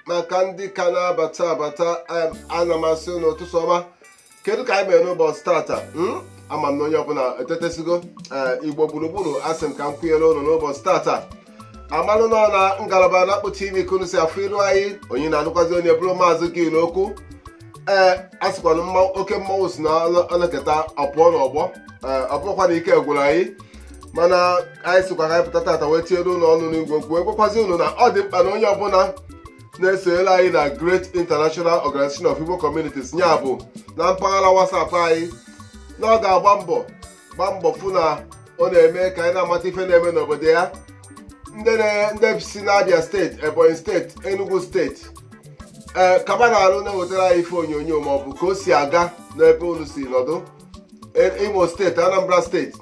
maka ndị ka na-abata abata ana m asị ụnụ ụtụtụ ọma kedu ka anyị mere n'ụbọchị tata hmm? ama m na onye ọbụla etetesigo eh, igbo gburugburu asị m ka m kwunyere ụnụ n'ụbọchị tata amalụ nọ na ngalaba na-akpụ tv ka unu si afụ ilu anyị onye na-anụkwazi onye bụrụ maazị gere okwu ee a sịkwa na mmanwụ oke mmanwụ sị na o le- o leketa ọ pụọ n'ọgbọ ee ọ bụrụkwa na ike gwụrụ anyị mana anyị sịkwa ka anyị pụta tata wee tinyere unu ọnụ n'igwe okwu a gwakwazi unu na ọ dị mkpa na onye ọbụla na-esonyere anyị na Great International Organization of Igbo Communities ya bụ na mpaghara WhatsApp anyị na ọ ga-agba mbọ gbaa mbọ fụ na ọ na-eme ka anyị na-amata ife na-eme n'obodo ya ndị na- ndị si n'abia steeti ebonyi steeti enugu steeti ee kaba na arụ na-ewetara anyị ife onyonyo ma ọ bụ ka o si aga n'ebe unu si nọdụ E- imo steeti anambra steeti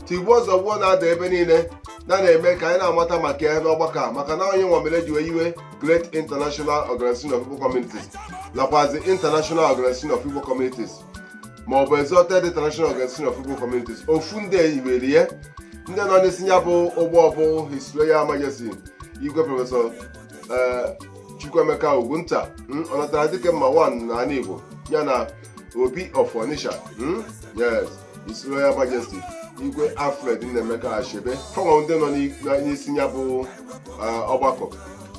tigbuo zọgbuo na-ada ebe niile na na-eme ka anyị na-amata maka ya n'ọgbakọ a maka na ọ ya nwa mere e ji wee nwee great international organization of igbo communities nakwazi international organization of igbo communities ma ọ bụ exalted international organization of igbo communities ofu ndị nwere ya ndị nọ n'isi ya bụ ụgbọ bụ his royal majesty igwe prọfesọ eh, chukwuemeka ogunta mm, ọnatara dike mma wan n'ala igbo ya na obi of onitsha mm, yes his royal majesty igwe alfred nnaemeka achebe fa nwa ndị nọ n'i- na- n'isi ya bụ eh, ọgbakọ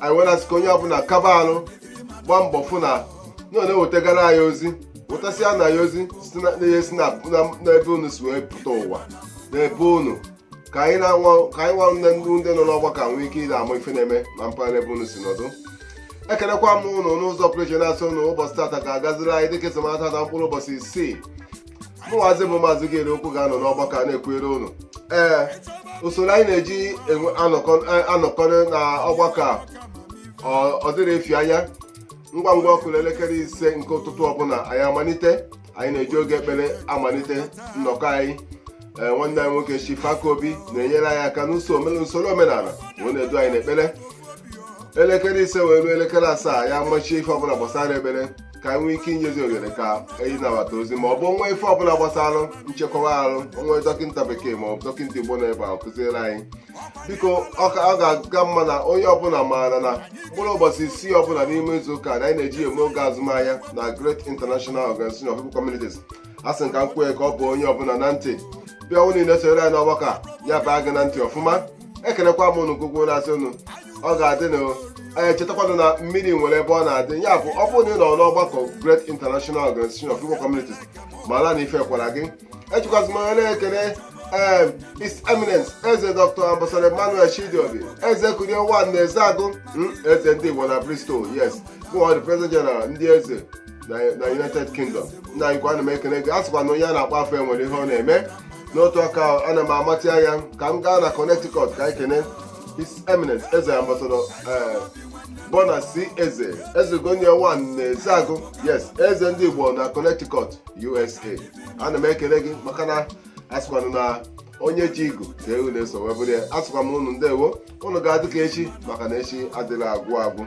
anyị wee na-asị ka onye ọbụla kaba arụ gbaa mbọ fụ na na ọ na-ewetagara anyị ozi wetasịara anyị ozi site na ihe si na na- n'ebe unu si wee pụta ụwa n'ebe unu ka anyị na-anwa ka anyị nwa nne ndị ndị nọ n'ọgbakọ a nwee ike ịda ama ife na-eme na mpaghara ebe unu si nọdụ ekelekwa m ụnụ n'ụzọ pụrụ iche na-asị ụnụ ụbọchị tata ga-agaziri anyị dịka e si mata na mkpụrụ ụbọchị isii mụnwazi bụ maazị gere okwu ga-anọ n'ọgbakọ a na-ekwuere ụnụ ee usoro anyị na-eji enwe- anọkọ- anọkọrị na ọgbakọ a ọ- ọ dịrị efi anya ngwa ngwa ọ kụrụ elekere ise nke ụtụtụ ọbụla anyị amalite anyị na-eji oge ekpere amalite nnọkọ anyị ee nwanne anyị nwoke Chief Akaobi na-enyere anyị aka n'usoro omen- usoro omenala wee na-edu anyị n'ekpere elekere ise wee ruo elekere asaa ya mechie ife ọbụla gbasara ekpere ka anyị nwee ike inyezi ohere ka anyị nabata ozi ma ọ bụ nwa ife ọbụla gbasara nchekwa arụ o nwee dọkịta bekee ma ọ bụ dọkịta igbo na-abịa kụziere anyị biko ọ ga-aga mma na onye ọbụla maara na mkpụrụ ụbọchị isii ọbụla n'ime izu ụka na anyị na-eji eme oge azụmahịa na Great International Organization of Igbo Communities a sị ka m kwue ka ọ baa onye ọbụla na ntị bịa unu niile soro anyị n'ọgbakọ ya baa gị na ntị ọfụma ekelekwa m unu ugbu a na-asị unu ọ ga-adịrị anyị chetakwanụ na mmiri nwere ebe ọ na-adị ya bụ ọ bụrụ na ị nọ n'ọgbakọ Great International Organization of Igbo Communities mara na ife kwara gị ejikwazị m onye na-ekele em His Eminence eze Dr. Ambassador Emmanuel Chidiobi Eze Kurie 1 na Ezeagu mm, eze ndị Igbo na Bristol yes bụ the President General ndị eze na na United Kingdom nna anyị kwa ana m ekele gị a sịkwa na onye a na-akpọ afa enwere ihe ọ na-eme n'otu aka ahụ, ana m amatị anya ka m gaa na Connecticut ka anyị kene His Eminence eze Ambassador eh, Bona C. Eze, Eze Gonia 1 na Ezeagu, yes, Eze ndị Igbo na Connecticut, USA. ana m ekele gị maka na asịkwanụ na onye ji igu ka ewu na-eso wee bụrụ ya asịkwa m unu ndewo unu ga-adị ka echi maka na echi adịghị agwụ agwụ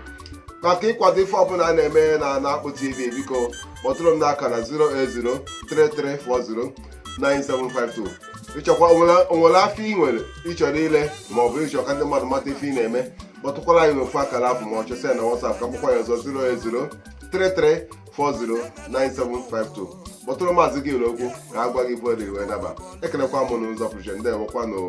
maka ịkwado ife ọbụla a na-eme na Akpụ TV biko kpọtụrụ m n'akara 08033409752 ịchọkwa o nwere afịa ị nwere ị chọrọ ile ma ọ bụ ịchọ ka ndị mmadụ mata ife ị na-eme kpọtụkwara anyị n'ofu akara afụ ma ọ chọsịa na WhatsApp ka m kpọkwa ya ọzọ 08033 409752 kpọtụrụ maazị gị okwu ka a gwa gị ife ọ dị wee naba ekelekwa m unu n'ụzọ pụrụ iche ndewokwanụ o